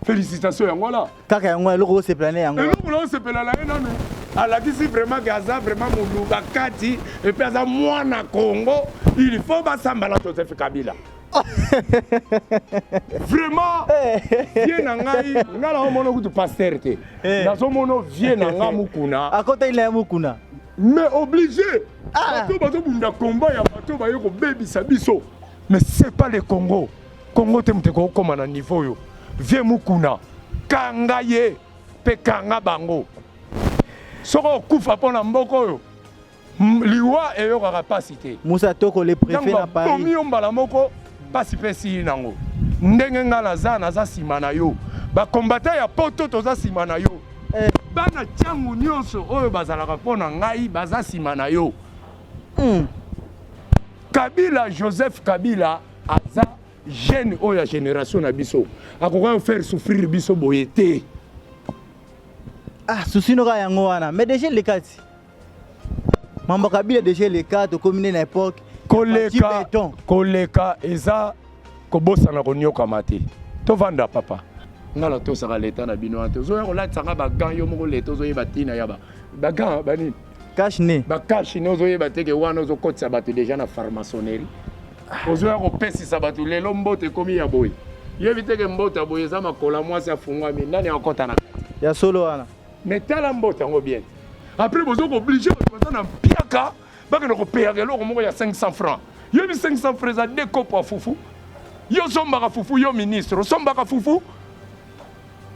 Félicitations yango wana. Kaka yango wana eloko osepela na yango. Eloko na osepela na ye nanu alakisi vraiment ke aza vraiment moluka kati epuis aza mwana Congo il faut basamba na Joseph Kabila. vraiment eh. vie na ngai ngai naomona kutu pasteur te eh. nazomona vie na ngai mokuna akotaki na ye mokuna mais obligé ah. bato bazobunda combat ya bato baye kobebisa biso mais c'est pas le Congo Congo te moto ekokoma na niveau oyo vie mukuna kanga ye mpe kanga bango soki okufa mpo na mboka oyo liwa eyokaka mpasi te musa toko le prefet na paris yo mbala moko mpasi mpe esili nango ndenge ngai naza naza nsima na yo bakombata ya poto toza nsima na yo eh. bana ntango nyonso oyo bazalaka mpo na ngai baza nsima na yo hmm. kabila joseph kabila aza jeune oyo ya génération na biso akoka ko faire souffrir biso boye te ah souci noka yango wana mais déjà elekati mambo kabila déjà eleka tokomi nde na époque koleka koleka eza kobosana koniokama te tovanda papa nga natosaka leta na bino wana te ozoya kolatisa nga bagan yo moko leta ozoyeba ntina ya bagan banini cash ne ba cash ne ozo yeba te ke wana ozo kotisa bato deja na pharmaçonnerie ozo ya kopesisa bato lelo mbote ekomi ya boye yebi te ke mbote ya boye eza makola mwasi afungwami nani akota na ya solo wana mais tala mbote yango bien après bozo ko oblige bato baza na mpiaka bakende kopeyaka eloko moko ya 500 francs yebi 500 francs eza de kopo ya fufu yo osombaka fufu yo ministre osombaka fufu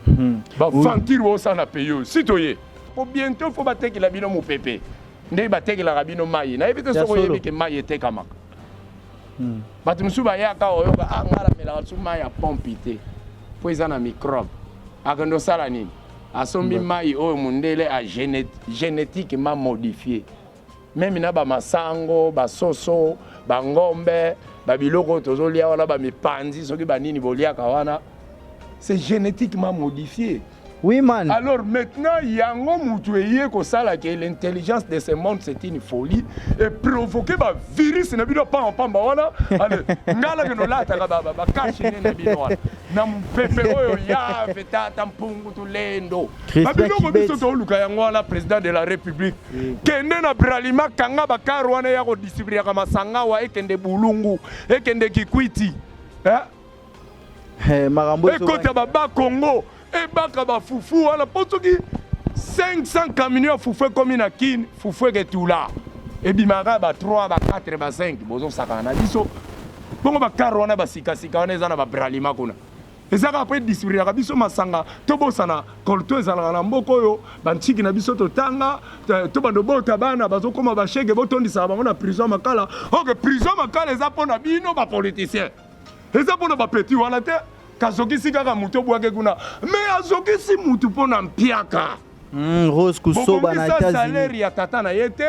Hmm. Ba vampire oyo ça na pays si toye. Pour bientôt faut bateki la bino mupepe. Nde bateki la bino mayi. Na ebite soko yebi ke mayi etekamaka. Hmm. Bato mosusu bayaka oyoka ah, ngai namelaka lisusu mai ya pompe te mpo eza na microbe akende osala nini asombi mai oyo mondele a génétiquement modifie meme na bamasango basoso bangombe babiloko oyo tozolia wana bamipanzi soki banini boliaka wana c'est génétiquement modifié oui man alors maintenant yango mutu eye kosala ke l'intelligence de ce monde c'est une folie et provoquer bavirus na bino pamba pamba wana ale ngala ke nolataka bakashi nde na bino wana na mopepe oyo yave tata mpungu tulendo na biloko biso tooluka yango wana président de la république kende na bralima kanga bakar wana ya kodistribuaka masangawa ekende bulungu ekende kikwiti eh? eh makambo ekota baba kongo ebaka bafufu wana mpo soki 500 camion ya fufu ekomi na kin fufu eketula ebimaka ba 3 ba 4 ba 5 bozosakana na biso bongo bakar wana basikasika wana eza na babralima kuna eza kaka mpe distribuaka biso masanga tobosana colto ezalaka na mboka oyo bantiki na biso totanga to bando bota bana bazokoma bashege botondisaka bango na prison makala oke prison makala eza mpo na bino bapoliticien eza mpo na bapeti wana te kazokisi kaka moto obwaki kuna me azokisi motu mpo na mpiaka hmm, rose kusoba na etats-unis ya tata na ye te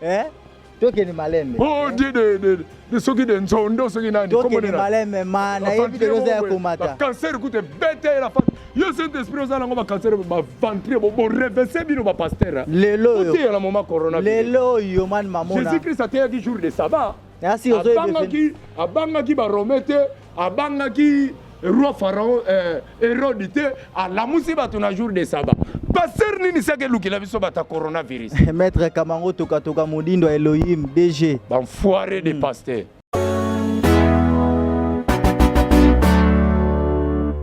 eh tokende malembe oh eh? de de de de soki de nzondo soki nani tokende malembe ma na yebi de loza ya komata cancer kute bete la fa yo saint esprit oza nango ba cancer ba ventre bo bo revese bino ba pasteur lelo yo te la moment corona lelo yo man mamona jesus christ ateyaki jour de sabbat abangaki abangaki barome te abangaki roi pharaon eh, herode te alamusi bato na jour de saba paster nini seke elukela biso bata coronavirus maître kamango tokatoka modindo ya elohim dg banfoire de hmm. paster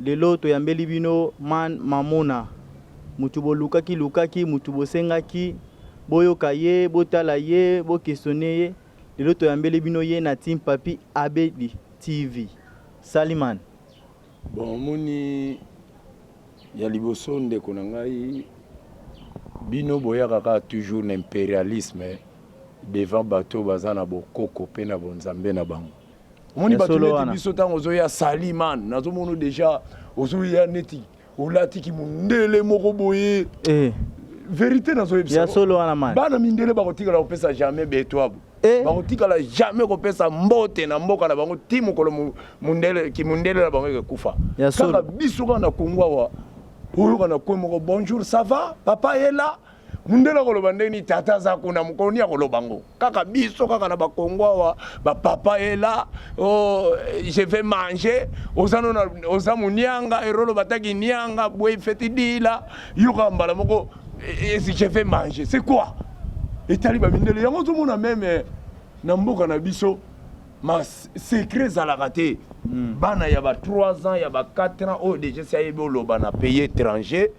Lelo toyambeli bino Man Mamona, mutu bolukaki lukaki, mutu bosengaki, boyoka ye, botala ye, bo questionner ye, lelo toyambeli bino ye na Team Papy Abedi TV. Salut Man. Bon omoni ya liboso ndeko na ngai bino boyaka kaka toujours na imperialisme devant batu oyo baza na bokoko pe na bonzambe na bango. omoni bato neti biso ntango ozoya sali man nazomono deja ozoya neti olati kimundele moko boye eh. verité nazoyebisa solo wana man bana mindele bakotikala kopesa jamais betoabo eh. bakotikala jamais kopesa mbote na mboka na bango ti mokolo mundele kimundele na bango ekekufa kaka biso kaka na kongo awa oyoka na kwe moko bonjour ça va papa est là mundele akoloba ndenge nini tata aza kuna mokolo nini akoloba ngo kaka biso kaka na bakongo awa bapapa ela oh, je vais manger oza nona oza monianga erolo bataki nianga boye feti dila yoka mbala moko eh, eh, je vais manger c'est quoi etali bamindele yango ozomona meme eh, na mboka na biso ma secret ezalaka te hmm. bana ya ba 3 ans ya ba 4 ans oyo oh, deja si ayebi oloba na pays étranger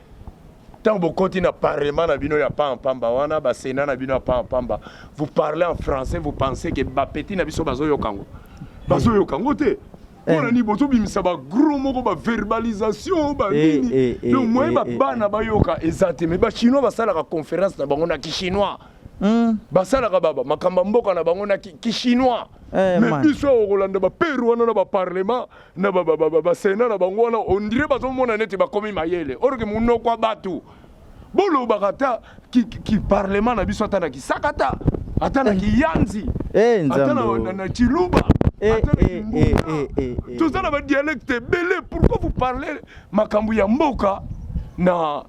Tant bokoti na parlement na bino ya pamba pamba wana ba senat na bino ya pamba pamba vous parlez en français vous pensez que ba petit na biso bazoyoka ngo bazoyoka ngo te mpona eh. nini bozobimisa bagro moko baverbalisation banini eh, eh, donc moye babana bayoka eza te mais bachinois basalaka conférence na bango na kichinois hmm. basalaka baba makambo ya mboka na bango na kichinois mais biso okolanda baperu wana na baparlement na ba ba ba ba sena na bango wana on dirait bazomona neti bakomi mayele orke monoko ya bato bolobaka ata kiparlema na biso ata na kisakata ata na eh. kiyanzi eh, ata na ciluba eh, toza na badialecte ebele pourquoi vous parlez makambo ya mboka na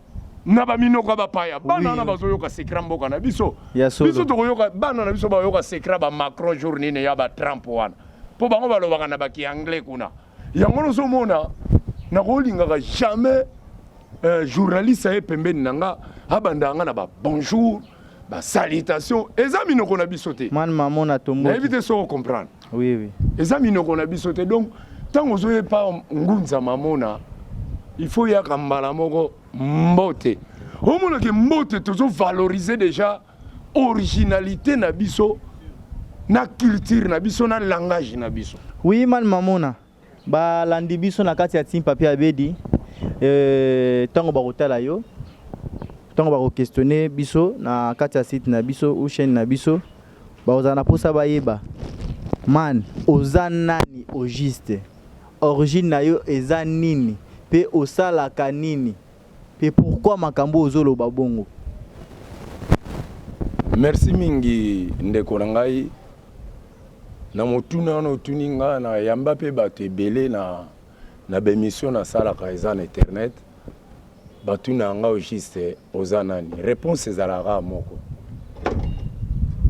na baminoko ya bapaya bana wana bazoyoka sekra mboka na biso biso tokoyoka bana na biso bayoka sekra bamacron jour nini ya batrump wana mpo bango balobaka na baki anglais kuna yango nozomona nakolingaka jamais euh, journaliste aye pembeni na nga abandaka nga na ba bonjour ba salutation eza minoko na biso te mwana mama na tombo nayebi te soko comprendre oui oui eza minoko na biso te donc ntango ozoye pa ngunza mamona il faut yaka mbala moko mbote omonake mbote tozovalorize déjà originalité na biso na culture na biso na langage na biso oui man mamona balandi biso na kati ya team papier abedi euh, ntango bakotala yo ntango bakoquestionne biso na kati ya site na biso ou chaîne na biso bakozala na mposa bayeba man oza nani au juste origine na yo eza nini mpe osalaka nini Pe pourquoi makambo oyo ozo loba bongo? Merci mingi ndeko na ngai na motuna wana otuni nga na yamba pe bato ebele na na ba emission nasalaka eza na internet batuna yanga au juste oza nani? Reponse ezalaka kaka moko.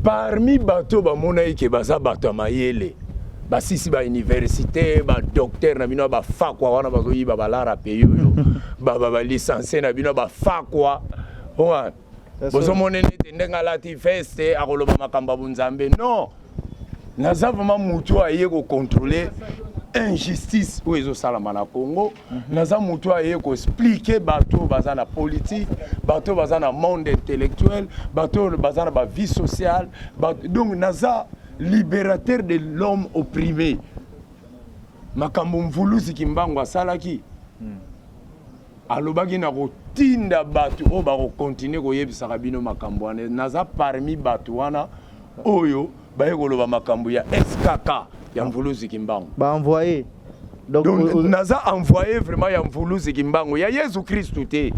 parmi bato oyo bamonaki ke baza bato ya mayele basisi ba université ba docteur na bino ba fakwa wana bazoyiba balara pays oyo ba ba ba licencie na bino ba fakwa wana bozomona nete ndenge alati veste akoloba makambo ya bonzambe non naza vraiment motu oyo aye kocontrole injustice oyo ezosalama na congo mhm. naza motu oyo aye koexplike bato oyo baza na politike bato oyo baza na monde intellectuel bato oyo baza na bavie sociale donc naza libérateur de l'homme opprimé makambo mvuluzi kimbangu asalaki hmm. alobaki na kotinda bato oyo bakokontinue koyebisaka bino makambo wana naza parmi bato wana oyo baye koloba makambo ya skk ya mvuluzi kimbangu baenvoye donc, donc euh, euh, naza envoye vraiment ya mvuluzi kimbangu ya yesu kristu te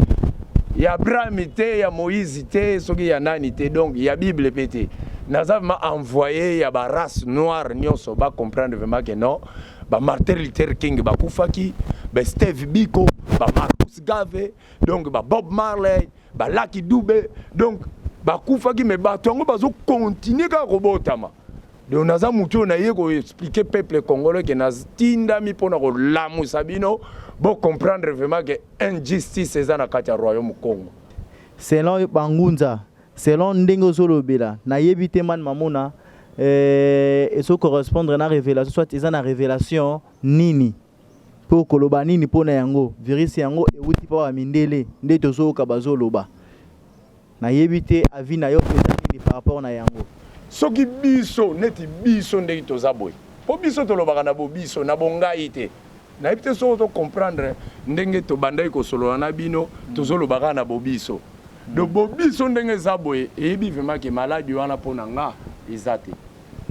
ya abrahami te ya moïse te soki ya nani te donc ya bible mpe te naza vraiment envoye ya barace noire nyonso bacomprendre vraiment ke non ba Martin Luther King bakufaki, ba Steve Biko, ba Marcus Garvey, donc ba Bob Marley, ba Lucky Dube, donc bakufaki mais bato yango bazo continuer kaka kobotama. Donc naza mutu oyo naye ko expliquer peuple congolais ke natindami mpona kolamusa bino bo comprendre vraiment ke injustice eza na kati ya royaume Congo. Selon yo bangunza Selon ndenge ozo lobela na yebi te man mamona eh, ezo correspondre na revelation soit eza na revelation nini po koloba nini po na yango virus yango ewuti pa ba mindele nde tozo yoka bazo loba na yebi te avis na yo peza nini par rapport na yango soki biso neti biso ndenge toza boye po biso tolobaka na bobiso na bongai te Nayebi te soki ozo comprendre ndenge tobandaki kosolola na bino, tozo loba kaka na bobiso. Donc bobiso ndenge eza boye eyebi vraiment que maladi wana mpo na nga eza te.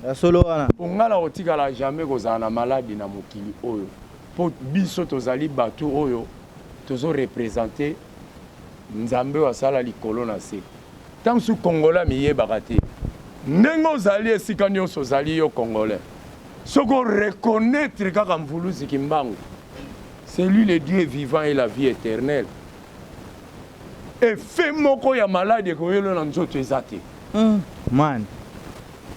Ya solo wana. Mpo nga nakotikala jamais kozala na maladi na mokili oyo. Mpo biso tozali batu oyo tozo representer Nzambe oyo asala likolo na se. Tango mosusu congolais amiyebaka te. Ndenge ozali esika nionso ozali yo congolais. Soki o reconnaitre kaka Mvuluzi Kimbangu, c'est lui le Dieu vivant et la vie eternelle, effet moko ya malade ekoyelo na nzoto eza te. Mm. Man.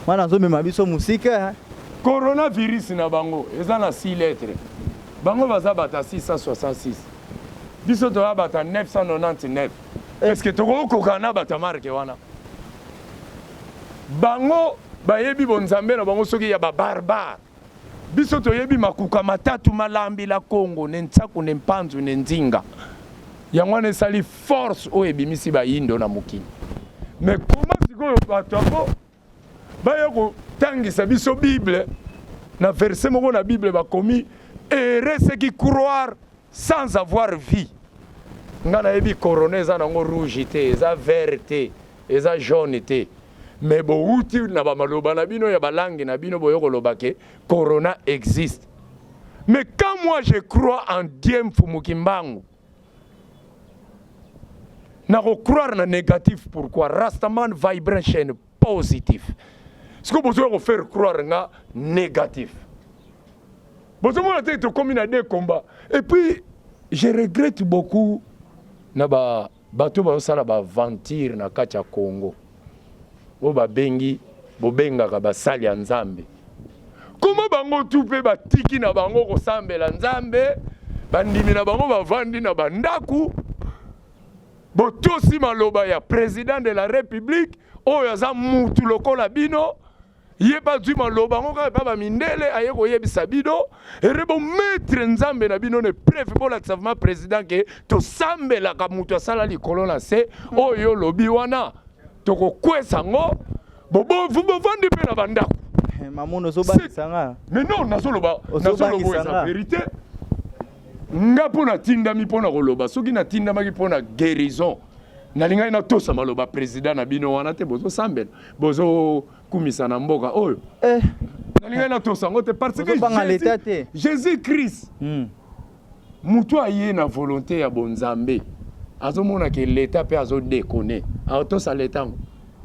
Man azomema biso musika. Eh. Coronavirus na bango eza na 6 lettres. Bango baza bata 666. Biso toya bata 999. Eh. Est-ce que tokokoka na bata marque wana? Bango bayebi bonzambe na bango soki ya ba barbare. Biso toyebi makuka matatu malambi la Congo ne Nsaku ne Mpanzu ne Nzinga. Yango wana esali force oyo ebimisi bayindo na mokili. Me koma sikoyo bato yango baya kotangisa biso Bible na verse moko na Bible bakomi heureux ceux qui croire sans avoir vu nga nayebi corona eza nango rouge te eza vert te eza jaune te me bowuti na bamaloba na bino ya balangi na bino boye koloba ke corona existe mais quand moi je crois en dieu mfumu kimbangu nakocroire na négatif pourquoi rastaman vibration positif sikoyo bozoya kofaire croire nga négatif bozomona te tokomi na de combat et puis je regrette beaucoup na ba bato bazosala baventure na kati ya congo oyo babengi bobengaka basali ya nzambe koma bango tu mpe batiki na bango kosambela nzambe bandimi na bango bavandi na bandako Botosi maloba ya president de la republique oyo aza mutu lokola bino ye mpe azwi maloba yango kaka epai bamindele aye koyebisa bino ere bometre nzambe na bino na epreve bolakisa vraimen president ke tosambelaka moto asala likolo na se oyo olobi wana tokokwesa yango bovandi mpe na bandako eh, mamono ozobakisa nga mais non nazoloba nazoloba eza verite nga mpo natindami mpo na koloba soki natindamaki mpo na guérison nalingaki natosa maloba président na bino wana te bozosambela bozokumisa na mboka oyo eh. nalingaki natosa yango te parce que jésus, jésus christ hmm. motu aye na volonté ya bonzambe azomona ke leta mpe azodekone atosa leta yango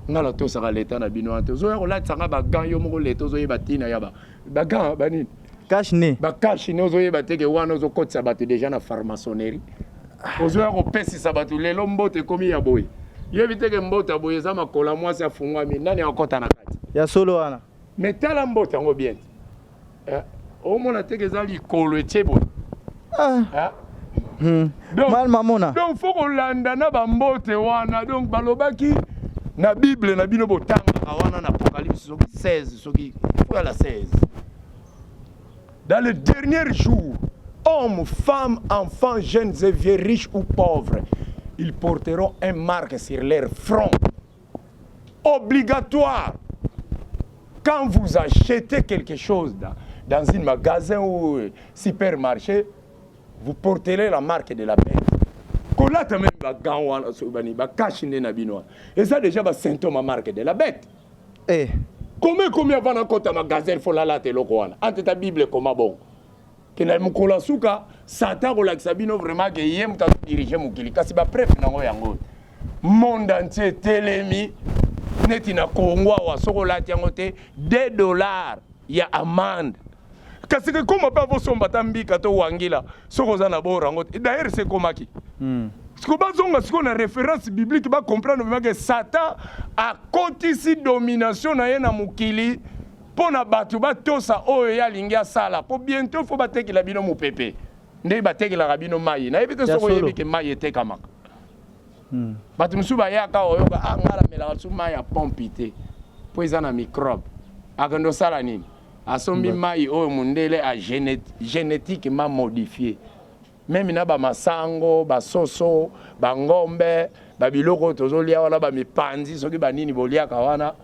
ngai natosaka leta na bino wana te ozoya kolatisa ngai bagan yo moko leta ozoyeba ntina ya ba ba gants ba nini cache ne ba cache ne ozoyeba te ke wana ozokotisa bato deja na pharmaçonnerie ozoya kopesisa bato lelo mbote ekomi ya boye yebi te ke mbote ya boye eza makola mwasi afungwami nani akokota na kati ya solo wana me tala mbote yango bien te eh, omona te ke eza likolo etie boye ah. Hmm. mal mamona donc faut kolanda na bambote wana donc balobaki na bible na bino botangaka wana na apocalypse soki 16 soki oyala 16 dans le dernier jour hommes femmes enfants jeunes et vieux riches ou pauvres ils porteront un marque sur leur front obligatoire quand vous achetez quelque chose dans, dans un magasin ou euh, supermarché vous porterez la marque de la bête kolata meme bagan wana soki bani bakashi nde na bino wana eza déjà basymptome ya marque de la bête eh. koma ekomi avana kota magasin folalata eloko wana anteta bible ekoma bongo ke na mokolo ya suka satan akolakisa bino vraiment ke ye moto azodirige mokili kasi bapreve nango yango monde entier etelemi neti na congo awa soki olati yango te 2 dollar ya amande kasi kekoma mpe avosomba ata mbika to wangila soki oza na boro yango te daire se ekomaki hmm. siko bazonga sikoyo na référence biblique bacomprendre vraimen ke satan akotisi domination na ye na mokili mpo na bato batosa oyo ye alingi asala mpo bientôt fo batekela bino mopepe ndenge batekelaka bino maye nayebi te soki oyebi ke maye etekamaka hmm. bato mosusu bayaka oyoka ah, nga namelaka lisusu mai ya pompi te mpo eza na microbe akende osala nini asombi mai oyo mondele a génétiquement modifie meme na ba masango ba soso ba ngombe ba biloko oyo tozolia wana ba mipanzi soki ba nini boliaka wana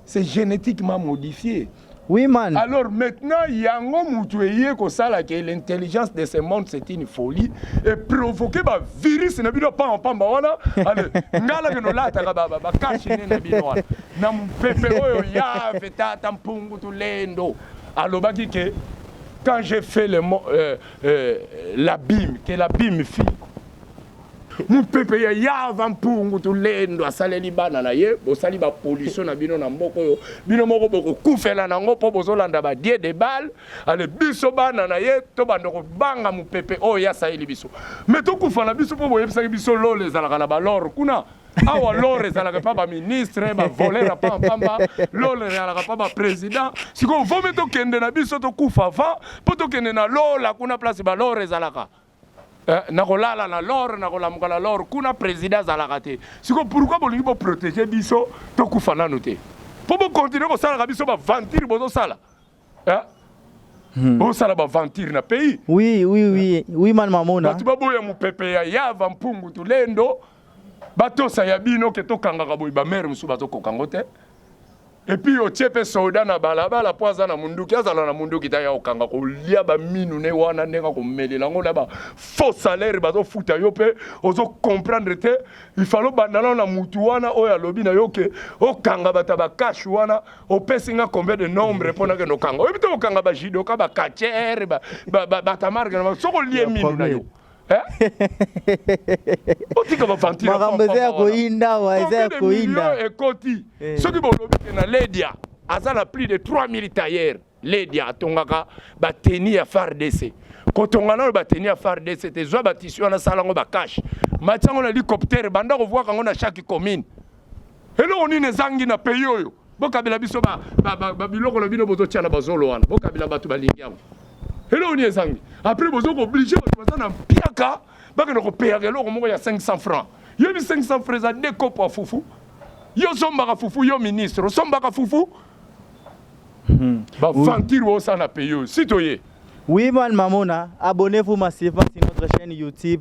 c'est génétiquement modifié Oui, man. Alors maintenant, Yango Mutueye Kosala, que l'intelligence de ce monde, c'est une folie, et provoquer un virus, n'a bino pas en pamba, voilà, allez, ngala que nous lata, ba, ba, ba, cache, n'a bino, voilà, n'a mpepe, oyo, ya, feta, tampungu, tout lendo, alobaki que, quand j'ai fait le, euh, Euh, la bim, que la bim fille. mopepe ya yava mpungu tulendo asaleli bana na ye bosali bapolitio na bino na mboka oyo bino moko bokokufela na yango mpo bozolanda badie de bale ale biso bana na ye tobanda kobanga mopepe oyo ye asaleli biso me tokufa na biso mpo boyebisaki biso lola ezalaka na balor kuna awa lore ezalaka epa baministre bavolere apa mpamba lore ezalaka pa baprésident sikoyo vomi tokende na biso tokufa va mpo tokende na lola kuna place balore ezalaka eh, nakolala na lore nakolamuka na lore kuna président azalaka te sikoyo pourkui bolingi boprotege biso tokufa nanu te mpo bokontinue kosalaka biso bavantire bozosala Hein? Hmm. osala baventure na pays oui, oui, oui. Oui, man mamona bato baboya mopepe ya yava mpungu tulendo batosa ya bino ke tokangaka boye bamere mosusu bazokoka yango te epuis otie mpe soda na balabala mpo aza na munduki azala na munduki ta ya kokanga kolia baminu ne wana ndenge akomelela yango na bafaux salaire bazofuta yo mpe ozokomprendre te ifale obanda nao na mutu wana oyo alobi na yo ke okanga bato ya bakashe wana opesi nga combien de nombre mpo nakende okanga oyebi te kokanga bajidoka bakachere batamarke na soki olie mino na yo otika bafantimakambo eza ya koyinda wa eza ya koyinda ekoti eh. soki bolobi te na ledia aza na plus de 3000 tailleur Ledia atongaka bateni ya FARDC kotonga nano bateni ya FARDC te zwa batisi wana sala yango bakash matya yango na helicoptere banda kovwaka yango na chaque commune eloko nini ezangi na pays oyo bokabela biso babiloko na bino bozotya na bazolo wana bokabela bato balingi yango eloko nini ezangi apres bozo kooblige bato baza na mpiaka bakende kopeyaka eloko moko ya 500 franc yebi 500 franc eza de kopo ya fufu yo osombaka fufu yo ministre osombaka fufu Hmm. Ba venture oui. ça na paye si toye. Oui man mamona, abonnez-vous massivement sur notre chaîne YouTube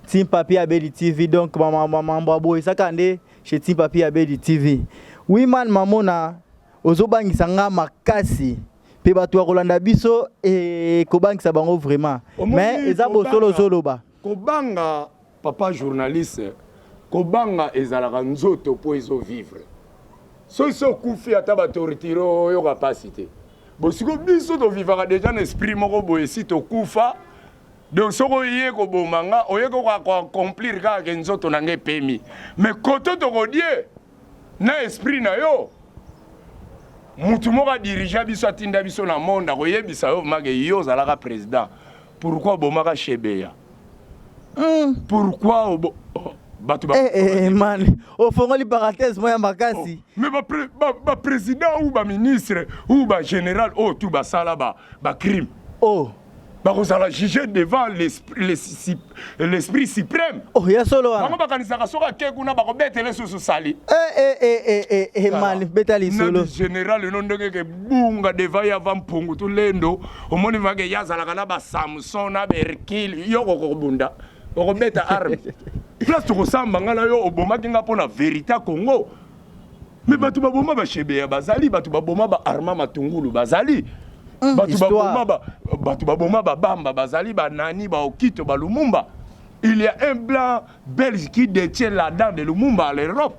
Team Papi Abedi TV. Donc maman maman boy ça kande chez Team Papi Abedi TV. Oui man mamona, ozobangisa nga makasi. Pe bato ya kolanda biso e kobangisa bango vraiment. Mais eza bosolo zoloba. Kobanga papa journaliste kobanga ezalaka nzoto po ezo vivre soki so okufi ata ba torture oyoka pasi te bosiko biso tovivaka deja na esprit moko boye si tokufa donc soki oye koboma nga oye koka koaccomplir kaka ke nzoto na nga epemi mais koto tokodie na esprit na yo mutu moko adirigea biso atinda biso na monde akoyebisa yo make yo ozalaka président pourquoi obomaka shebeya mm. pourquoi obo... oh, bato ba... eh, eh, man ofongoli parenthèse moya makasi oh. mais baprésident ba, ba ou baministre ou bagénéral oyo oh, tu basala bacrime ba oh. bakozala juge devant l'esprit suprême oh, ya solo wana bango bakanisaka soki ake kuna bakobetele susu sali eh, eh, eh, mali beta lisolo général eno ndenge ke bunga devant ya va mpungu to lendo omoni vake ye azalaka na basamson na berkile yo kokobunda okobeta arme place tokosamba ngai na yo obomaki ngai mpo na verité ya congo me bato baboma bashebeya bazali bato baboma ba arma matungulu bazali mm, bato baboma ba, bato baboma babamba bazali banani baokito balumumba il y a un blanc belge qui détient la dent de lumumba à l'europe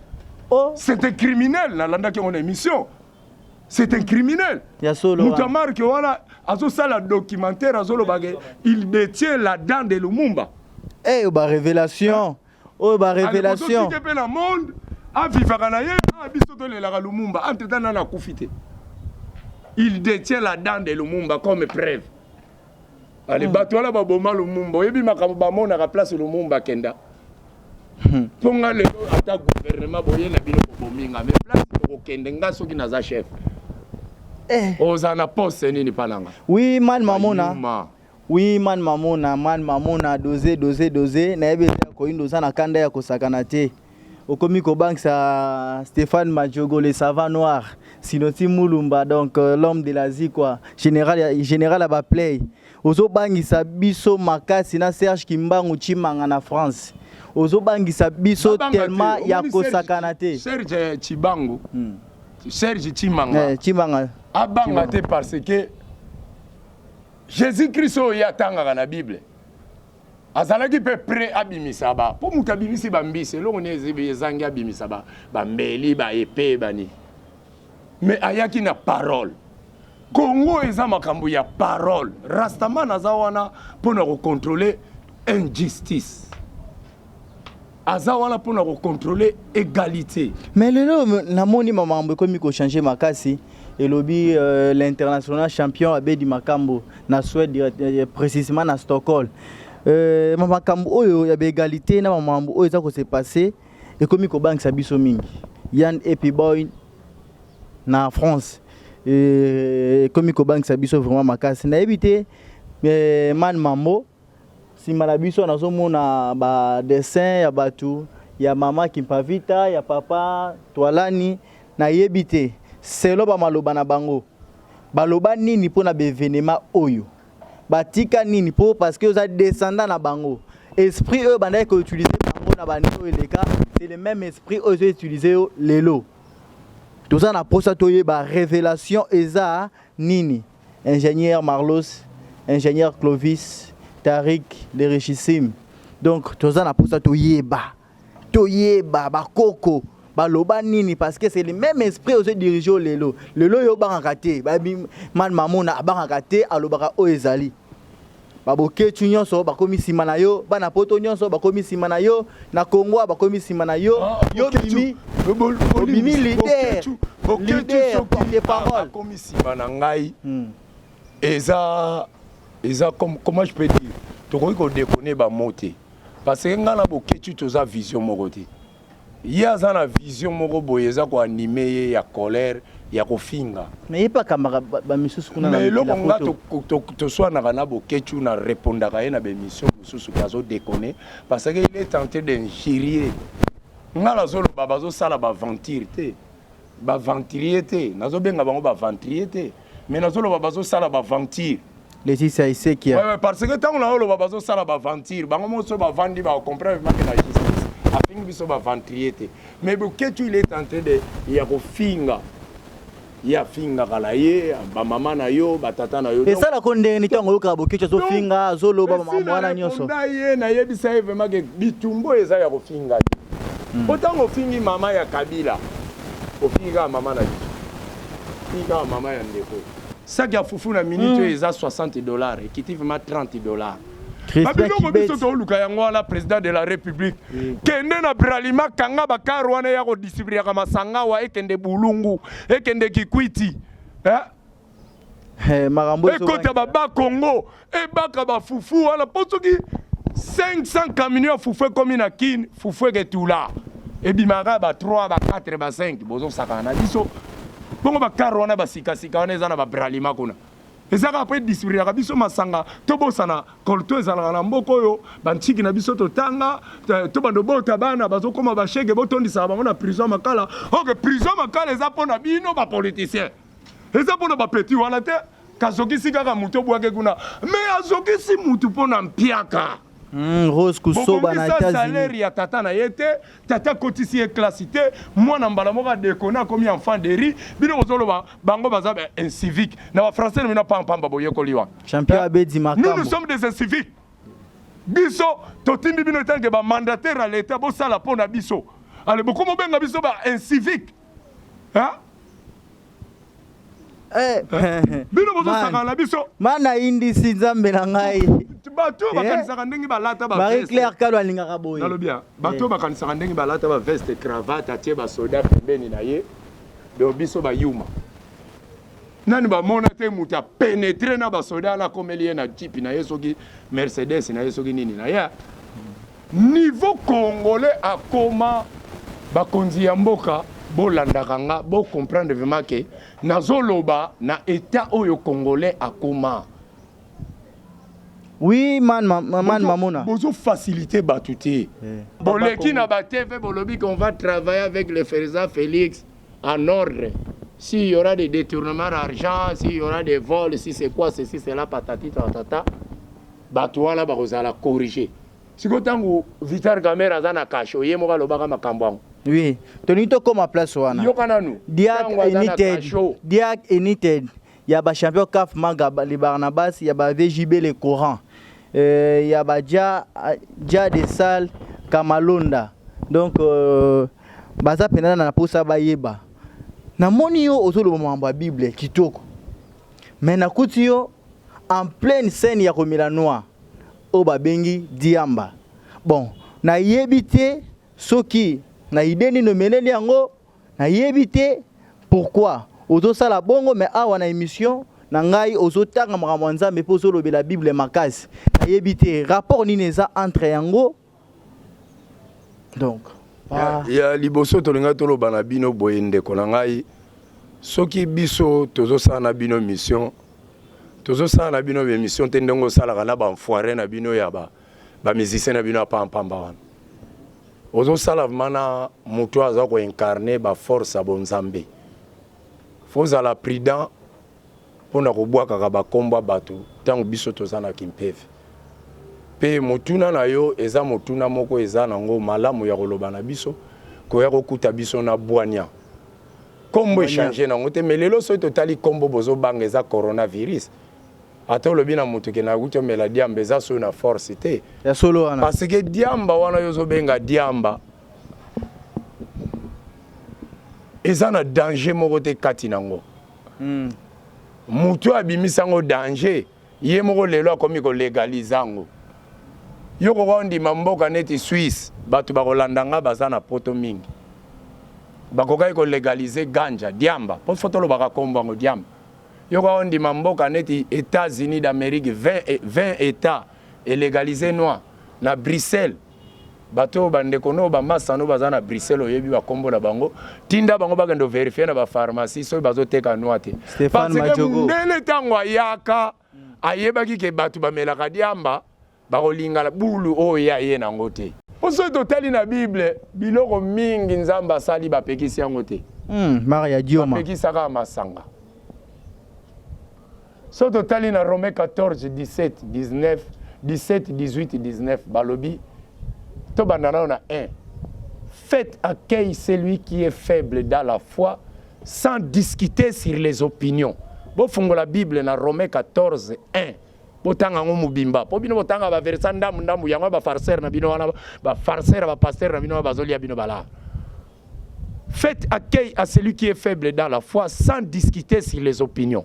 oh. c'est un criminel nalandaki yango na émission c'est un criminel moto ya marke wana azosala documentaire azolobake il détient la dent de lumumba eyo eh, barévélation oyo ba revelation pe na monde avivaka na ye ah, biso tolelaka lumumba entre temps nana akufi te il détient la dent de lumumba comme preuve ale hmm. bato wana baboma lumumba oyebi makambo bamonaka place lumumba akenda hmm. mpo nga lelo ata gouvernement boye na bino bobomi nga me place okokende nga soki naza chef eh. oza na poste nini mpa na nga oui mal mamona Oui man mamona man mamona doze doze doze nayebi eza ya koyindo oza na kanda ya kosakana te okomi kobangisa Stéphane Madjogo le savant noir sinoti mulumba donc euh, l'homme de la zikwa général ya général ya baplay ozobangisa biso makasi na Serge Kimbangu Chimanga na France ozobangisa biso Nabanga te, tellement ya omoni Serge- kosakana te serge chibangu Hmm. serge chimanga Eh, Chimanga abanga te parce que Jesus Christ oyo ye atangaka na Bible azalaki mpe pre abimisa ba mpo moto abimisi bambisi eloko ni ezangi abimisa ba bambeli ba epe bani me ayaki na parole Congo eza makambo ya parole rastaman aza wana mpo na kocontrole injustice aza wana mpona kocontrole egalite mais lelo namoni mamambo ekomi kochange makasi elobi euh, l'international champion abedi makambo na swede euh, euh, précisément na stockholm euh, makambo oyo ya baegalite na mamambo oyo eza kose passe ekomi kobangisa biso mingi yan epiboy na france ekomi kobangisa biso vraiment makasi nayebi te man mambo Sima na biso nazo mona ba dessin ya batu ya mama Kimpavita ya papa Twalani na yebi te selon ba maloba na bango ba loba nini pona b'evenema oyo ba tika nini po parce que oza descendant na bango esprit oyo bandaki ko utiliser bango na ba annee oyo eleka c'est le meme esprit oyo ezo utiliser yo lelo toza na posa toyeba revelation eza nini ingenieur Marlos, ingenieur Clovis, Tariq, le richissime. Donc toza na posa toyeba. Toyeba ba koko baloba nini parce que c'est le même esprit ozo dirige lelo. Lelo yo bangaka te. Ba man mamona abangaka te alobaka oyo ezali. ba boketshu nyonso bakomi nsima na yo bana poto nyonso bakomi nsima na yo na kongo bakomi nsima na yo ah, yo bimi obimi lider lider porte parole bakomi nsima na ngai hmm. eza eza comment je peux dire tokoki kodekone bamo te parce que ngai na boketshu toza vision moko te Ye aza na vision moko boye eza ko anime ye ya colère ya kofinga. Mais ye pe akambaka ba misusu kuna na mokili ya poto. Mais eloko nga toswanaka na Boketshu na repondaka ye na ba emissions mosusu ke azo deconner parce que il est tentent d'injurier nga nazoloba bazosala ba aventure te. ba venturier te nazo benga bango ba venturier te mais nazo loba bazo sala ba venture Laetitia Isekia ouais, ouais, parce que ntango na yo oloba bazosala baventure bango moko so bavandi bacomprendre make na justice afingi biso baventurier te mais boketu il est en train de ya kofinga ye afingaka na ye bamama na yo batata na yo esala ko ndenge nini ntango oyokaka bokecu azofinga azoloba wana nyonso ye nayebisa ye vraimen ke bitumbo eza ya kofinga te mm. po ntango ofingi mama ya kabila ofingi kaka mama na biso ofingi kaka mama ya ndeko saki ya fufu na minute oyo mm. eza 60 dollar ekiti vraimen 30 dollar babiloko biso tooluka yango wana président de la république mm. kende na bralima kanga bakar wana ya kodistribuaka masanga wa ekende bulungu ekende kikwiti eh? Eh, makambo ekota baba congo ebaka bafufu wana mpo soki 500 camion ya fufu ekomi na kin fufu eketula ebimaka ba 3 ba 4 ba 5 bozosakana na biso bongo bakare wana basikasika wana eza na babralima kuna eza kaka mpo edisiplinaka biso masanga tobosana kolto ezalaka na mboka oyo bantiki na biso totanga tobanda obota bana bazokoma bashege botondisaka bango na prison makala oke prison makala eza mpo na bino bapoliticien eza mpo na bapeti wana te kazokisi kaka moto obwake kuna me azokisi motu mpo na mpiaka Mm, Rose Kusoba na Etats-Unis. salaire ya tata na ye te, tata kotisi ye classe te, mwana mbala moko adekona akomi enfant de riz. Bino bozoloba bango baza ba incivique. Na ba français na bino pam pam ba boyekoli wa. Champion abedi makambo. Nous nous sommes des inciviques. Biso totindi bino etanke ba mandataire ya l'État bosala mpo na biso. Ale bokomo benga biso ba incivique. hein? Eh, eh, bino bozosaka na biso mana indisi nzambe na ngai bato oyo eh? bakanisaka ndenge balata marie claire kalo alingaka boye nalobi bato oyo bakanisaka ndenge balata baveste cravate atie basoda pembeni na ye do biso bayuma nani bamona te moto apenetre na basoda wana akomeli ye na jipi na ye soki mercedes na ye soki nini na ye Niveau congolais akoma bakonzi ya mboka bolandaka nga bo comprendre vraiment que nazoloba na etat oyo congolais akoma. Oui man, ma, ma- man mamona. bozo facilite bato te Eh. boleki na ba tv bolobi qu'on va travailler avec le ferza félix en ordre s'il y aura des détournements d'argent s'il y aura des vols si c'est quoi ceci cela patati patata Batu wana bako zala corrige. Sikoyo tangu vital kamerhe aza na cachot ye moko alobaka makambu yango? Oui tolingi tokoma place wana. Yoka nanu. Diac united Diac united ya ba champion caf maga le barnabas ya ba vjb le coran euh, ya ba ja ja de salle kamalonda donc euh, baza mpenza na posa bayeba namoni yo ozoloba makambo ya bible kitoko me nakuti yo en pleine scène ya komela noix oyo babengi diamba bon nayebi te soki na idee nini omeleli yango nayebi te pourquoi ozosala bongo me awa na émission na ngai ozotanga makambo ya nzambe mpe ozolobela bible makasi nayebi te rapport nini eza entre yango donc ya, ya liboso tolinga toloba na bino boye ndeko na ngai soki biso tozosala na bino mission tozosala na bino bemission te ndenge osalaka na banfoire na bino ya bamusicien ba na bino ya pampamba wana ozosala vraimen na moto aza koincarne baforce ya bonzambe fozala prudent pona kobwakaka ba kombo ya batu tango biso toza na kimpeve pe motuna na yo eza motuna moko eza na ngo malamu ya koloba na biso koya kokuta biso na bwanya kombo echange na ngo te me lelo soki totali kombo bozo banga eza corona virus ata olobi na mutu ke na kuti omela diamba eza so na force te ya solo wana parce que diamba wana yo ozo benga diamba eza na danger moko te kati na ngo mm. mutu oyo abimisa yango danger ye moko lelo akomi kolegalize yango yo koka ondima mboka neti swisse bato bakolanda ngai baza na poto mingi bakokaki kolegalize ganja diamba mpo fo tolobaka nkombo yango diamba yo koka ondima mboka neti états-unis d'amérique 20, 20 états elegalize noir na bruxelles Bato oyo bandeko no bamasta no baza na Bruxelles oyebi bakombo na bango tinda bango bakende verifie na bapharmacie soki bazoteka nwa te parce que mundele ntango ayaka ayebaki ke bato bamelaka diamba bakolingala bulu oyo ye aye nango te mpo soki totali na bible biloko mingi nzambe asali bapekisi yango te hmm, bapekisaka masanga So totali na Rome 14, 17, 19, 17, 18, 19, balobi, tobanda nao na 1. Faites accueil celui qui est faible dans la foi sans discuter sur les opinions. Bofungola Bible na Rome 14, 1. botanga yango mobimba mpo bino botanga baversa ndambu ndambu yango bafarcere na bino wana bafarcere bapastere na bino wana bazolia bino balaa Faites accueil à celui qui est faible dans la foi sans discuter sur les opinions.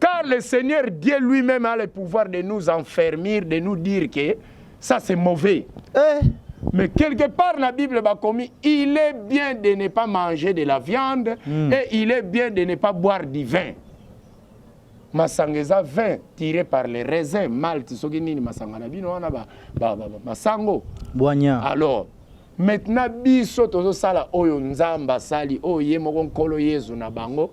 Car le Seigneur Dieu lui-même a le pouvoir de nous enfermer, de nous dire que ça c'est mauvais. Eh. Mais quelque part, la Bible m'a commis, il est bien de ne pas manger de la viande mm. et il est bien de ne pas boire du vin. Masangeza vin tiré par les raisins, malt, soki nini masanga na bino wana ba, ba, ba, ba masango. Boigna. Alors, maintenant biso tozo sala oyo nzamba sali oyo ye moko nkolo Yesu na bango.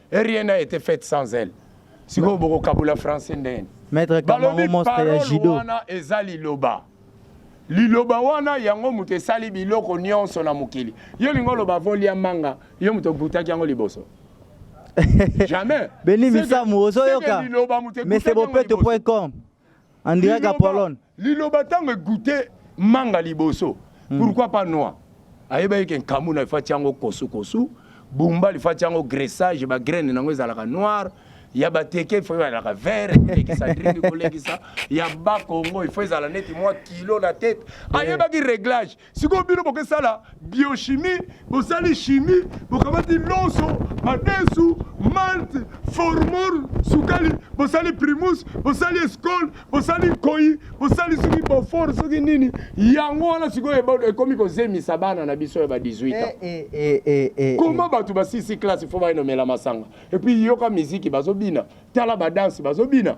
Et rien n'a été fait sans elle. Sikoyo bokokabola français ndeni. Maître Kamaro monstre ya judo. Wana eza liloba. liloba wana yango moto esali biloko nyonso na mokili yo olingi oloba volia manga yo moto obutaki yango liboso jamais beni misamu ozoyoka mesebopeto.com On dirait Liloba- Apollon. liloba ntango egoute manga liboso pourquoi pas noix ayebaki ke nkamu na efati yango kosukosu bumba lifati yango graissage bagraine nango ezalaka noir ya bateke ifo ezalaka vert kolekisa drink kolekisa ya bakongo ifo ezala neti mwa kilo na tete ayebaki réglage sikoyo bino bokesala biochimie bosali chimie bokamati lonso madesu malte formol sukali bosali primus bosali escole bosali nkoi bosali soki bofor soki nini yango wana sikoyo ekomi kozemisa bana na biso ya ba 18 ans eh, eh, eh, eh, koma eh. bato basisi classe fo bayenomela masanga epuis yoka miziki bazobina tala badanse bazobina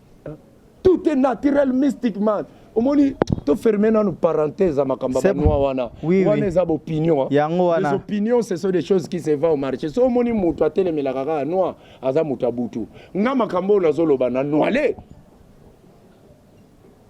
tout est naturel mystiquement omoni to ferme nanu parenthèse ya makambo ya banua wana oui, wana oui. eza baopinion yango wana les opinions ce sont des choses qui se va au marché so omoni moto atelemelaka kaka noir aza moto ya butu nga makambo oyo nazoloba na noile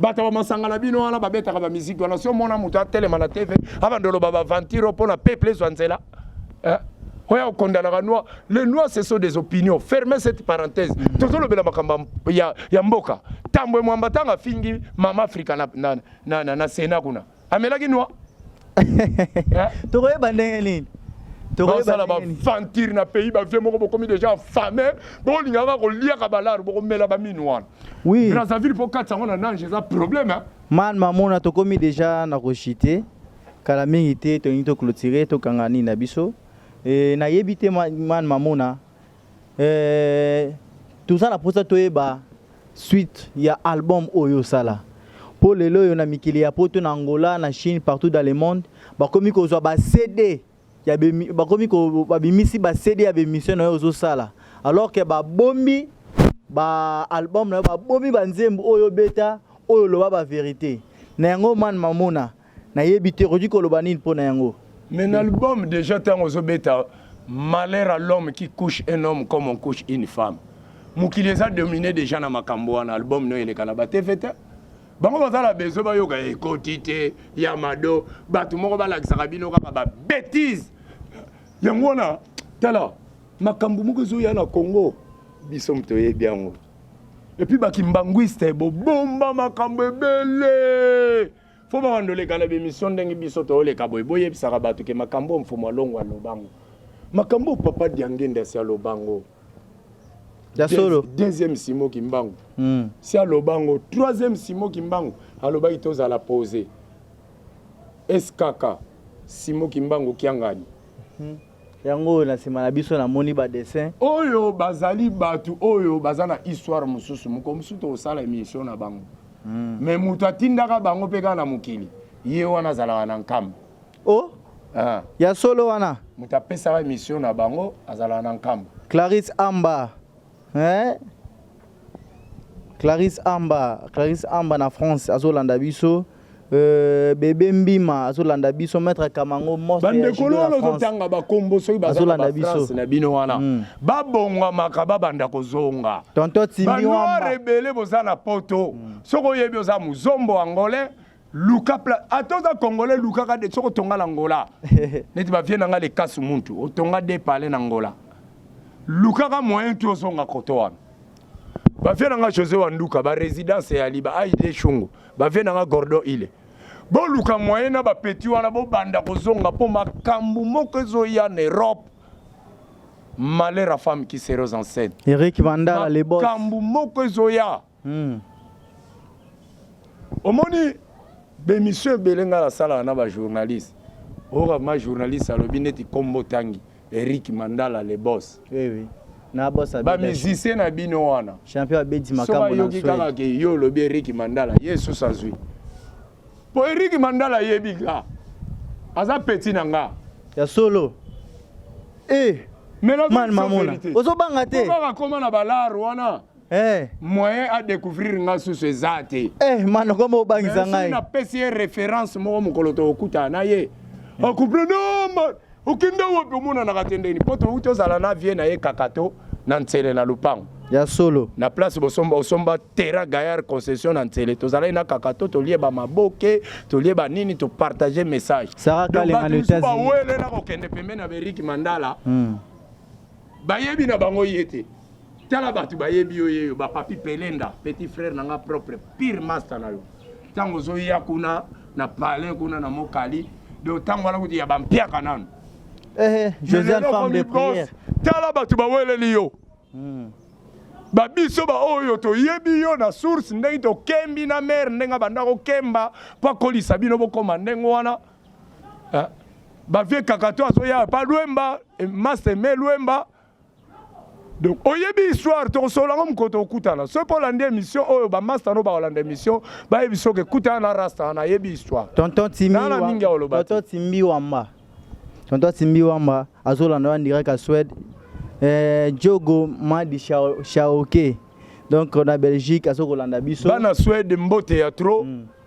bato ya bamasanga na bino wana babetaka bamiziki wana si omona moto atelema na tv abanda oloba baventiro mpo na peuple ezwa nzela eh? oya okondanaka noir le noir ce sont des opinions ferme cette parenthèse mm. tozolobela makambo ya, ya mboka tambwe mwamba ntango afingi mama afrika na, na, na, na, na sena kuna amelaki nwa eh? tokoyeba ndenge nini basala baventure na pays bavie moko bokomi déjà fame bolingaka koliaka balare bokomela baminu wana oui. brazzaville mpo kati yango na nange eza problème hein? man mamona tokomi déjà na koshite kala mingi te tolingi toclotire tokanga nini na biso e, nayebi te man mamona eh, toza na posa toyeba suite ya album oyo osala mpo lelo oyo na mikili ya poto na angola na chine partout dans le monde bakomi kozwa ba cd ya bemi- bakomi ko- babimisi ba cd ya bemission na yo ozosala alors ke babombi ba album na yo babomi ba nzembo oyo obeta oyo oloba ba verité na yango man mamona nayebi te okoki koloba nini mpo na yango mais na album déjà ntango ozobeta malheur à l'homme qui couche un homme comme on couche une femme mokili eza domine déjà na makambo wana album no eleka na batv te bango baza na besoin bayoka ekoti te ya mado bato moko balakisaka bino kaka babetise yango wana tala makambo moko ezoya na congo biso moto oyebi yango epuis bakimbanguiste bobomba makambo ebele Faut ba bandoleka na bemission ndenge biso tooleka boye boyebisaka bato ke makambo mfumu alongo alobango makambo papa diangenda si alobango ya solo deuxième simo kimbangu mm. si alobango troisième simo kimbangu alobaki tozala pose skk simo kimbangu kiangani mm. Yango oyo na sima na biso na moni ba dessin. Oyo bazali batu oyo baza na histoire mususu moko mususu tokosala emission na bango. Mm. Mais mutu atindaka bango pe kaka na mokili. Ye wana azalaka na nkamba. Oh? Ah. Ya solo wana. Mutu apesaka emission na bango azalaka na nkamba. Clarisse Amba. eh? Clarisse Amba, Clarisse Amba na France azolanda biso euh, bebe mbima azolanda biso maître kamango bandekolo wana ozotanga bakombo soki bazalabafrance na bino wana mm. babongwamaka babanda kozonga tonto timiwamba rebele boza na poto mm. soki oyebi oza muzombo angolais luka pla ata oza congolais lukaka de soki otonga na ngola neti bavie na ngai lekasu muntu otonga de pale na ngola lukaka moyen tu ozonga koto wana bavie na ngai josé wanduka baresidence ya liba aide shungu bavie na ngai gordon ile boluka moyen na bapeti wana bobanda kozonga mpo makambo moko ezoya na europe malheur ya femme qui seros enceinte eric vandala lebos makambo moko ezoya Hmm. omoni bemission ebele ngai nasalaka na bajournaliste oyoka ma journaliste alobi neti kombo tangi eric mandala le bos oui, oui. bamusicien na bino wana bayoki kaka ke yo olobi eric mandala ye esusu azwi mpo eric mandala ayebi ka aza peti na nga ya solo e eh, ozobanga te akoma na balare wana Eh. moyen a découvrir nga susu eza te eh, mano koma obangisa ngai napesi ye référence moko mokolo tokokutana na ye hmm. akomprendre ah, okenda wapi omonanaka te ndeni mpo touti ozala na vie na ye kakato na nsele na lopango ya solo na place bosomba osomba terrain gaillard concession na nsele tozalaki na kakato tolie bamaboke tolie banini topartage message sarakalenga na etats-unis bawele na kokende pembeni ya beriki mandala hmm. Bayebi na bango ye te. Tala bato bayebi yo yeyo ba papi pelenda petit frère na nga propre pire master na yo ntango ozoya kuna na palais kuna na mokali donc ntango wana kutu ya bampiaka nanu eh, eh, tala bato baweleli yo hmm. babiso baoyo toyebi yo na source ndenge tokembi na mare ndenge abanda kokemba mpo akolisa bino bokoma ndenge wana Eh, ba vieux kakato azoya pa lwemba eh, master me lwemba donc oyebi histoire tokosolola ngo mokolo tokutana soki mpo olandi émission oyo bamasta no bakolanda émission bayebi soki ekutana na rasta wana ayebi histoire tonton timina mingi aoloba tonton timbi wamba tonton timbi wamba azolanda wana direct ya swede eh, jogo madi shaoke donc na belgique azokolanda biso bana swede mbote ya trop mm.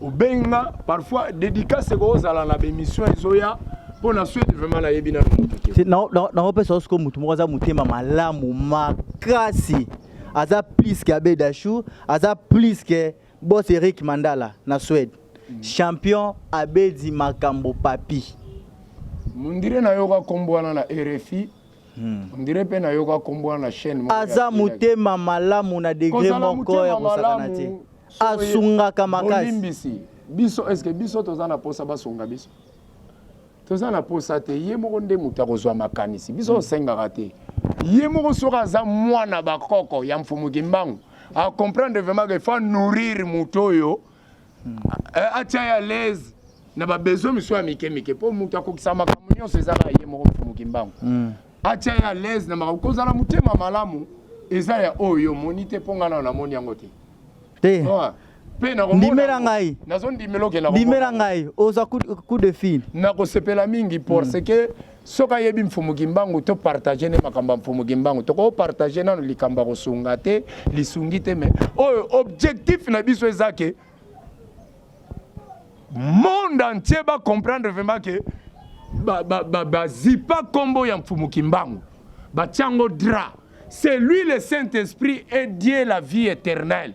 obengi nga parfois dédicace ekozala na bemission ezoya mpo na swede vraiment nayebi nano moto te nakopesa osiko motu moko aza motema malamu makasi aza plus ke abe dachou aza plus ke bos eric mandala na swede mm. champion abedi makambo papi mondire nayoka nkombo wana na rfi Hmm. On dirait pe na yoka kombo na chaîne moko. Aza motema malamu na degré moko ya kosakana te. Asungaka makasi. Bolimbisi. Biso est-ce que biso toza na posa basunga biso? Toza na posa te. Ye moko nde moto akozwa makanisi. Biso hmm. osengaka te. Ye moko soki aza mwana bakoko ya mfumu Kimbangu, a comprendre vraiment que faut nourrir moto oyo eh, atia ya lese na babesoin misusu ya mike mike mpo moto akokisa makambo nyonso ezaka ye moko mfumuki mbangu hmm. atia ya lese na makambo kozala motema malamu eza ya oyo omoni te mpo ngai nao namoni yango te te ndimela ngai ndimela ngai oza coup de fil nakosepela mingi parce hmm. que soki ayebi mfumu kimbangu to partage nde makambo ya mfumu kimbangu toko partage nano likambo ya kosunga te lisungi te me oyo objectif na biso eza ke monde entier ba comprendre vraiment ke bazipa nkombo ya mfumu kimbangu batyango dra c'est lui le saint esprit et dieu la vie éternelle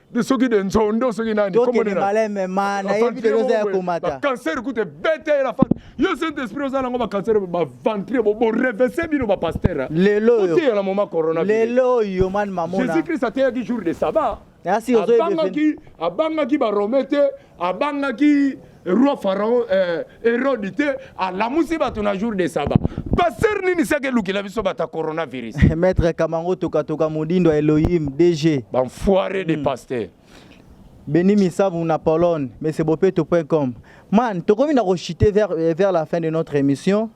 de soki de nzondo soki nani tokende maleme ma nayebi te oza ya komata bacancer kutu ebeta ye na fat yo saint esprit oza nango bacancer baventre borevese bino bapaster lelo oyo oteya na moma corona lelo oyo mani mamona jésus christ ateyaki jour de sabbat abangaki abangaki barome te abangaki roi pharaon eh, erode te alamusi bato na jour de saba paster nini seke elukela biso bato ya coronavirus maître kamango tokatoka modindo ya elohim dg banfoire de mm. paster beni misabu na pologne mesebopeto com man tokomi na kochite vers, eh, vers la fin de notre émission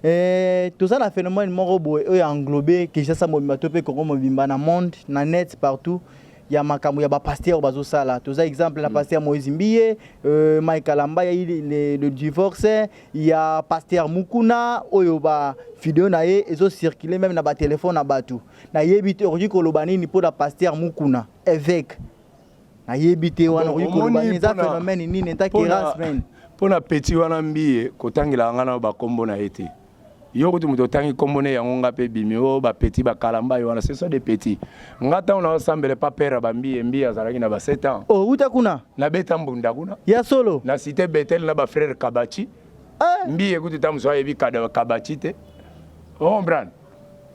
Eh, toza na phénomène moko boye oyo englobe kinshasa mobimba to mpe congo mobimba na monde na net partout ya makambo ya ba pasteur bazo sala toza exemple na mm. pasteur Moïse Mbiye euh, Mike Kalamba ya le, le divorce ya pasteur Mukuna oyo ba video na ye ezo circuler même na ba téléphone na batu na yebi te okoki koloba nini mpo na pasteur Mukuna évêque na yebi te wana okoki koloba nini eza phénomène nini enta kerasmen mpo na petit wana mbiye kotangela nga na bakombo na ye te yo kutu moto otangi nkombo ne yango nga mpe ebimi o oh, bapeti bakalambai wana ce sont des petits nga ntango naosambele pa pere bambiye mbiye azalaki na ba 7 ans outa oh, kuna nabeta mbunda kuna ya solo na site betel na bafrere kabachi eh. mbiye kutu ta mosu ayebi kabachi te ombrane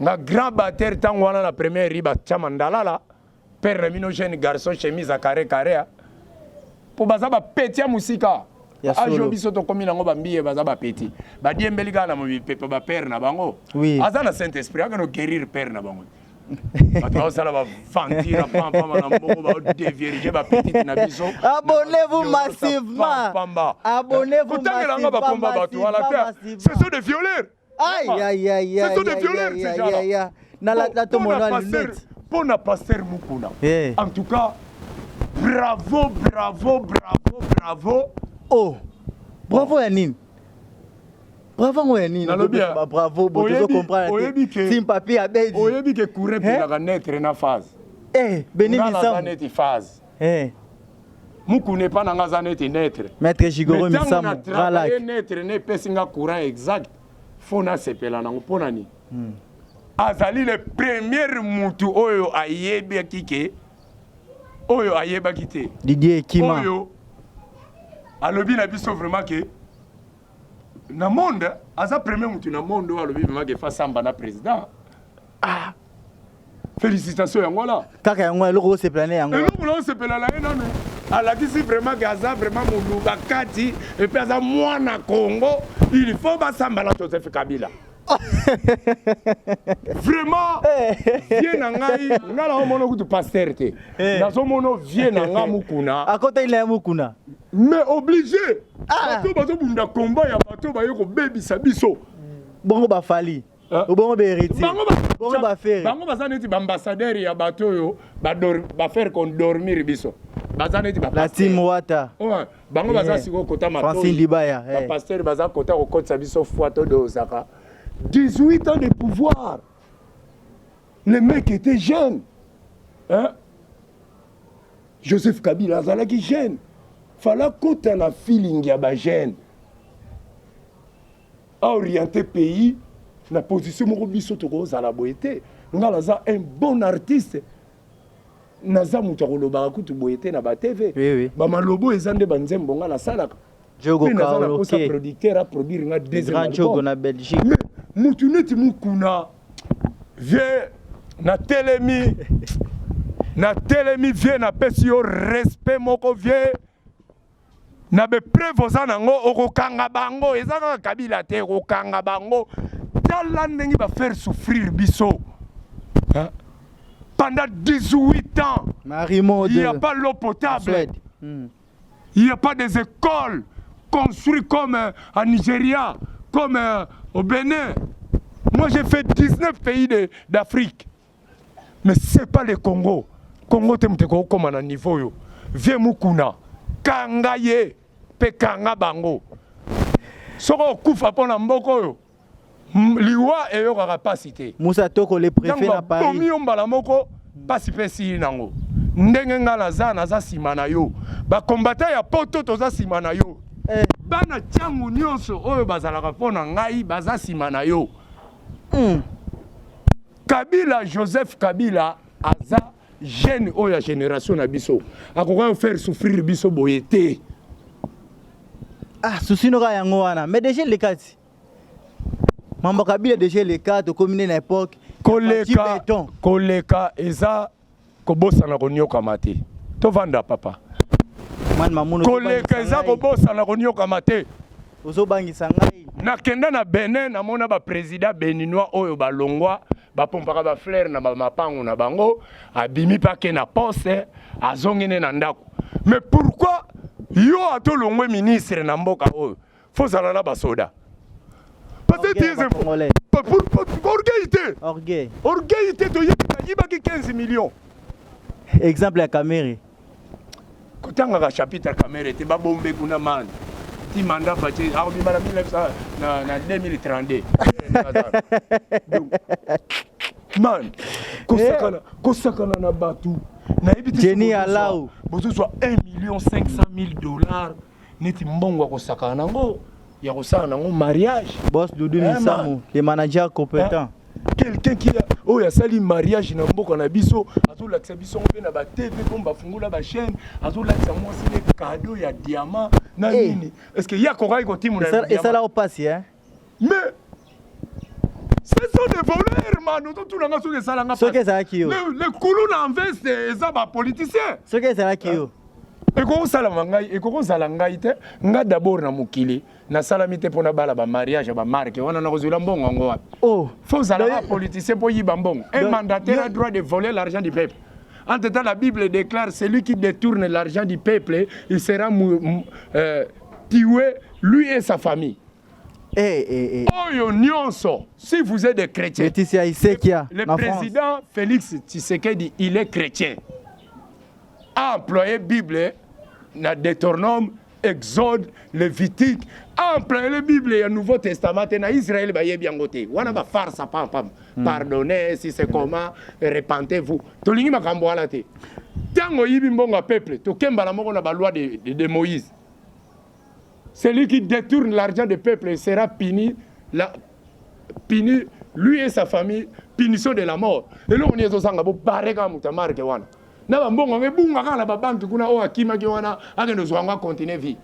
nga grand bater ntango wana na première riba chama ndalala perdre mino jeune garçon chemise à carré carré hein. po baza ba petit ya musika ajo biso tokomi nango bambiye baza bapeti badiembeli kaka na mipepe bapere na bango oui. aza na saint esprit akende oguerire pere na bango bato baosala bavantire pampama na mbongo baodevierige bapetite na biso abonnez-vous massivement abonnez-vous massivement kotangela nga bakomba bato wala te ce sont des violeurs mpo na paster mokuna eh. en tout cas bravo bravo bravo bravo o oh. bravo ya nini bravo yango ya nini bravo botozo comprendre tim papier abedi oyebi ke courant epelaka netre na phase eh, beni misango eh mukuna epa na nga aza neti netre maître jigoro misamu travaille netre ne pesi nga courant exact fo na sepela nango mpo na nini hmm. azali le premier mutu oyo ayebaki ke oyo ayebaki te didier ekima oyo alobi na biso vraiment ke na monde aza premier mutu na monde oyo alobi vraiment ke fasamba na président ah félicitation yango wana kaka yango eloko osepela na yango eloko na osepela na ye nanu alakisi vraiment ke aza vraiment moluba kati epuis aza mwana congo il faut basamba na joseph kabila vraiment eh. vie na ngai ngai naomona kutu paster te eh. nazomono vie na ngai mokuna akotaki na ye mokuna mais obligé ah. bato bazobunda combat ya bato baye kobebisa biso bongo bafali Ah. obongo baheritiebongo bafere bango baza neti baambassadeur ya bato oyo bafaire kodormir biso baza neti batim wata bango baza eh. sikoyo kota matoibapaster eh. baza kota kokotisa biso foi todozaka 18 ans de pouvoir le mec était jeune hein? joseph kabila azalaki jeune fala kota na feeling ya bajeune a oriente pays na position moko biso tokozala boye te ngai naza un bon artiste naza moto ya kolobaka kutu boye te na batv oui, oui. bamalobo eza nde banzembo ngai nasalaka mpe naza na mposa producteur aproduire ngai deuxième album na belgique mais motu neti mokuna vie natelemi natelemi vie napesi yo respect moko vie na bepreuve oza nango okokanga bango eza kaka kabila te okokanga bango tala ndenge bafaire souffrir biso hein? pendant 18 ans Marimo il n'y a pas l'eau potable hmm. il n'y a pas des écoles construites comme euh, en Nigeria comme euh, au Bénin moi j'ai fait 19 pays d'Afrique mais c'est pas le Congo Congo te moto ekokoma na niveau oyo vie mukuna kanga ye mpe kanga bango soki okufa mpo na mboka oyo liwa eyokaka mpasi te musa toko le prefet na paris bomi yo mbala moko mpasi mpe esili nango ndenge ngai naza naza nsima na yo bakombata ya poto toza nsima na yo eh. bana ntango nyonso oyo bazalaka mpo na ngai baza nsima na yo mm. Kabila Joseph Kabila aza jeune oyo ya generation na biso akoka faire souffrir biso boye te. Ah, souci noka yango wana mais déjà le kati mambo Kabila déjà le kati okomi na époque koleka koleka eza kobosana konyokwama te tovanda papa koleka eza kobosana konyokwama te ozobangisa ngai nakenda na benin namona baprésident beninois oyo balongwa bapompaka baflere na bamapango na bango abimi mpe ake na poste azongi ne na ndako mais pourquoi yo ata olongwe ministre na mboka oyo Faut zala na ba soda. Parce que des infos. Pour, pour, pour orgueil te. Orgueil. Orgueil te to yiba ki 15 millions. Exemple ya Kamere. Kotanga ka chapitre ya Kamere te ba bombe kuna man. Ti mandat fache a obima na 1900 na na 2032. Man, kosakana, eh. kosakana na batu. Jenny Alau. Bozozwa 1 million 500 000 dollars neti mbongo ya kosakana na yango ya kosala na yango mariage boss dudu eh, misamu le manager competent eh, quelqu'un qui oyo asali mariage na mboka na biso azolakisa biso yango mpe na batv mpo bafungola bachaîne azolakisa mwasi ne kado ya diamant na eh. nini est ce que ye akokaki kotimona esala mpasi mais ce sont des voleurs man ozotuna nga soki esala nga soki ezalaki yo le kulu na veste eza ba politicien soki ezalaki yo ekoki osalama ngai ekoki ozala ngai te ngai dabord na mokili nasalami te mpo nabala bamariage ya bamarke wana nakozwela mbongo yango wapi oh. fo ozalaka politicien mpo oyiba mbongo e mandataire a droit de voler l'argent du peuple En tout cas, la Bible déclare celui qui détourne l'argent du peuple, il sera euh, tué, lui et sa famille. Eh, eh, eh. oyo nyonso si vous êtes des chrétiens Betisi ya Isekia le na France. président félix tshisekedi il est chrétien a employé bible na deuteronome exode levitique a employé le bible ya nouveau testament te na israel bayebi yango te wana bafarsa pampam pardonne si c'est comment repentez vous tolingi makambo wana te ntango oyibi mbongo ya peuple tokembala moko na baloi de, de, de moïse Celui qui détourne l'argent des peuples sera puni, la, puni lui et sa famille, punition de la mort. Eloko nini ezozanga bobare kaka moto ya marke wana na bambongo yango ebunga kaka na babanki kuna oyo akimaki wana akende ozwa yango acontinue vie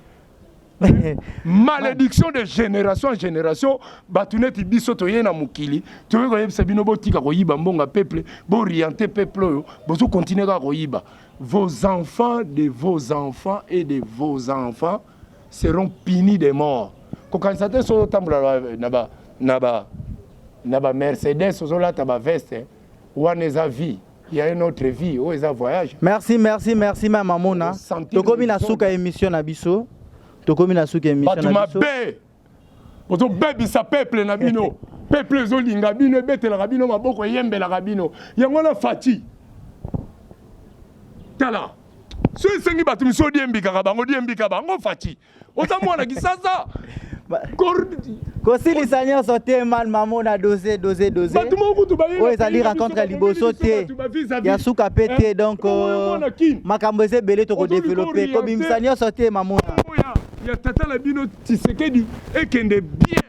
malédiction de génération en génération bato neti biso toye na mokili toyei koyebisa bino botika koyiba mbongo ya peuple booriente peuple oyo bozokontinue kaka koyiba Vos enfants de vos enfants et de vos enfants seront punis de mort. Kokanisa te soki otambola na ba na ba na ba Mercedes ozolata ba veste wana eza vie il y a une autre vie oyo eza voyage merci merci merci mama mona tokomi na suka émission na biso tokomi na suka émission na biso bozobebisa peuple na bino peuple ezolinga bino ebetelaka bino maboko eyembelaka bino yango wana fati tala so esengi bato misusu odiembikaka bango diembika bango fati oza mwana kisasa kosilisa nyonso te man mamo na dose dose dose oyo ezali rencontre ya liboso te ya suka mpe te eh, donc euh, makambo eza ebele tokodevelope kobimisa nyonso te mamona ya tata na bino Tshisekedi ekende bien.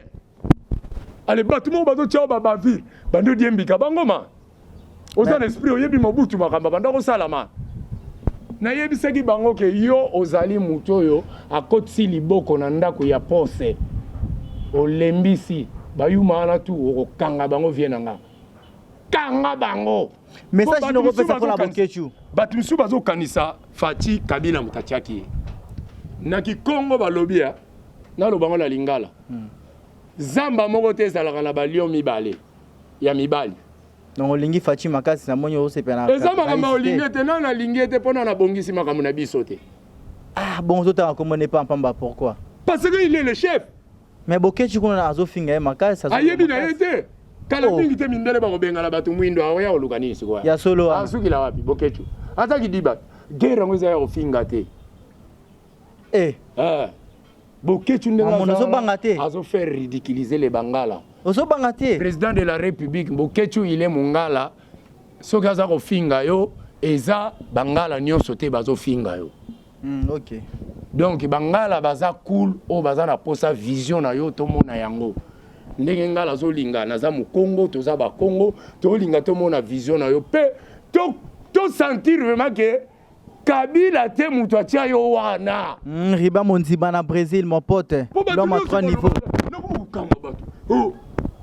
Ale bato moko bazo tiao ba bavure bando diembika bangoma. Oza na esprit oyebi Mobutu makambo banda kosalama. Nayebisaki bango ke yo ozali moto oyo akotisi liboko na ndako ya pose. Olembisi bayuma wana tu okokanga bango vie na nga. Kanga bango. message noko pesa kola boketshu bato mosusu bazokanisa fati kabila moto atiaki ye na kikongo balobi ya naloba ngo na lingala hmm. zamba moko te ezalaka na balio mibale ya mibali donc olingi faci makasi na moni osepela eza makambo ya olingi ete nani alingi ete mpo nani abongisi makambo na biso te ah bon ozotanga komona epa mpamba pourquoi parce que il est le chef Mais Boketchi kuna azo finga ye makasi. Ayebi na ye te. Kala oh. mingi te mindele bakobengana bato mwindo aoya koluka nini sikoyo? Ya solo wana. Asukila wapi Boketchi? Aza kidiba. Guerre yango eza ya kofinga te. Eh. Eh. Boketchi ndenge azo. Azo banga te. Azo faire ridiculiser les Bangala. Ozo banga te. Président de la République Boketchi il est mongala. Soki aza kofinga yo eza Bangala nyonso te bazo finga yo. mm, ok donc bangala baza cool oyo baza na posa vision na yo tomona yango ndenge ngala azolinga naza mokongo toza bakongo tolinga tomona vision na yo mpe tosentir to vraiment ke kabila te moto atya yo wana mm, riba monziba na brésil mon pote loma 3 niveau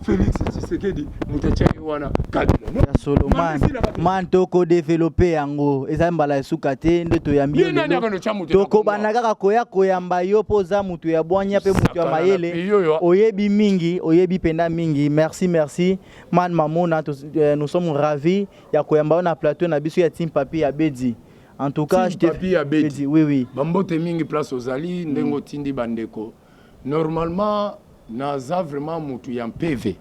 Felix Tshisekedi moto atya ye wana kabila ya solo man man toko develope yango eza mbala ya suka te nde toyambi yo lelo tokobanda kaka koya koyamba yo mpo oza moto ya bwanya mpe moto ya mayele oyebi mingi oyebi mpenza mingi merci merci man mamona eh, nous sommes ravi ya koyamba yo na plateau na biso ya team papi ya bedi en tout cas je te... papi ya bedi oui oui bambote mingi place ozali ndenge mm. otindi bandeko Normalement naza vraiment mutu ya mpeve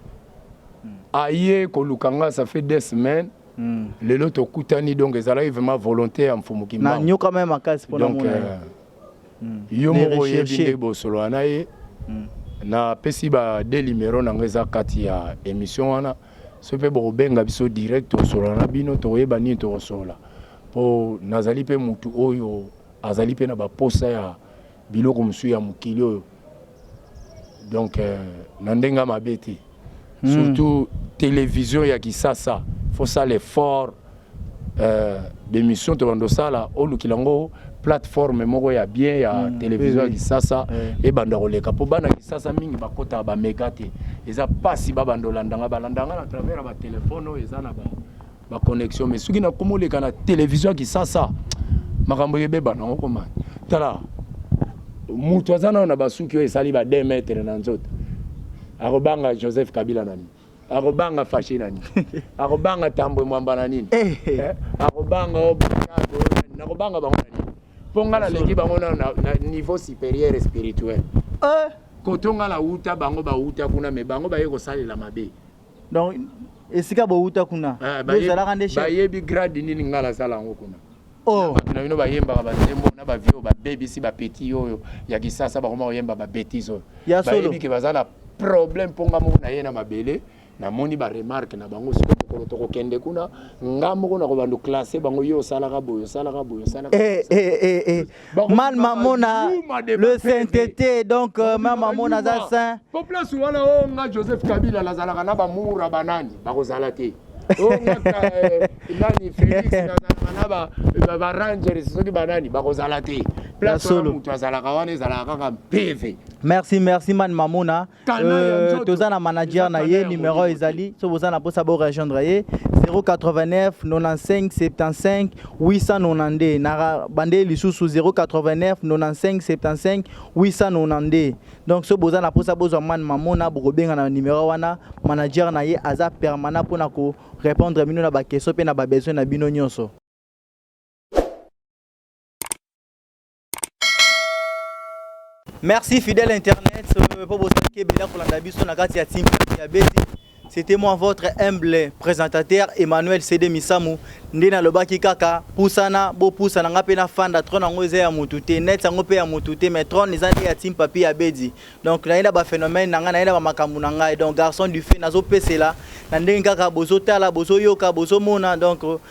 aye koluka nga ça fait deux semaines Mm. lelo tokutani donc ezalaki vraiment volonté ya mfumu kimbangu na nyoka meme makasi pona donc euh, mm. yo moko oyebi nde bosolola na ye mm. napesi ba de numero na ngai eza kati ya émission wana so mpe bokobenga biso direct tosolola na bino tokoyeba nini tokosolola mpo nazali mpe motu oyo azali mpe na baposa ya Biloko mosusu ya mokili oyo donc euh, na ndenge ya mabe te hmm. surtout télévision ya kisasa faut sala effort euh, bémission tobanda osala olukila yango plateforme moko ya bien ya mm, télévision ya oui, kisasa oui. ebanda koleka mpo bana kisasa mingi bakotaka bamega te eza mpasi babanda olandanga balandanga na travers ya batelefone oyo eza na ba ba connexion mais soki na komo leka na television kisasa makambo yebeba na okoma tala mutu aza nao na basuki oyo esali ba 2 mètre na nzoto akobanga joseph kabila na nini akobanga fashi na nini akobanga tambwe mwamba na nini eh, eh. eh, akobanga nakobanga bango na nini mpo ngai naleki bango na niveau supérieur spirituel koto ngai nauta bango bauta kuna me bango baye kosalela mabe donc esika bowuta kuna ah, bozalaka nde chef bayebi grade nini ngai nazala yango kuna oh. bato na bino bayembaka banzembo na bavio babebisi bapeti oyo ya kisasa bakoma koyemba babetise oyo bayebi ke baza na problème mpo ngai moko naye na mabele namoni baremarke na bango siko mokolo tokokende kuna nga moko nakobanda classe bango yo osalaka boye osalaka boye osalaka eh, eh, eh, mal mamona le sainteté donc euh, mal mamona aza saint po place wana o oh, nga joseph kabila nazalaka na bamura banani bakozala te oh, eh, nani félix nazalaka na barangers eh, soki banani bakozala te place wana moto azalaka wana ezalaka kaka mpeve merci merci man mamona Euh, toza na manager na ye numero ezali soki boza na mposa borejoindre ye 089 95 75 892 na bande lisusu 089 95 75 892 donc soki boza na mposa bozwa mane mamona bokobenga na numero wana manager na ye aza permanent mpo na korépondre bino na bakestion mpe na babesoin na bino nyonso Merci fidèle internet euh, po bozali kebela kolanda biso na kati ya team ya beti c'était moi votre humble présentateur Emmanuel Cede Misamu nde nalobaki kaka pusana bopusana nga mpe nafanda trone yango eza ya motu te net yango mpe ya motu te mais trone eza nde ya team papi ya bedi donc naye na baphénomène na ngai naye na bamakambo na ngai donc garçon du fait nazopesela na ndenge kaka bozotala bozoyoka bozomona donc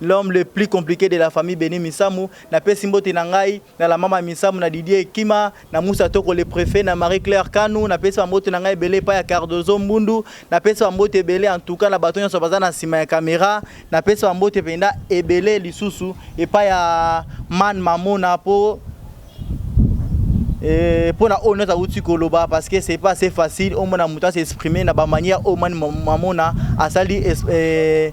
L'homme le plus complique de la famille Beni Misamu, na pesi mbote na ngai, na la mama Misamu, na Didier Ekima, na Moussa Toko le prefet, na Marie Claire Kanu, na pesi ba mbote na ngai ebele epai ya Cardozo Mbundu, na pesi ba mbote ebele en tout cas na bato nyonso baza na sima ya camera, na pesi ba mbote penda ebele lisusu epai ya Man Mamona po eh, pona oyo nyonso awuti koloba parce que c'est pas assez facile omona moto a s'exprimer na ba manière oyo Man Mamona asali es- eh,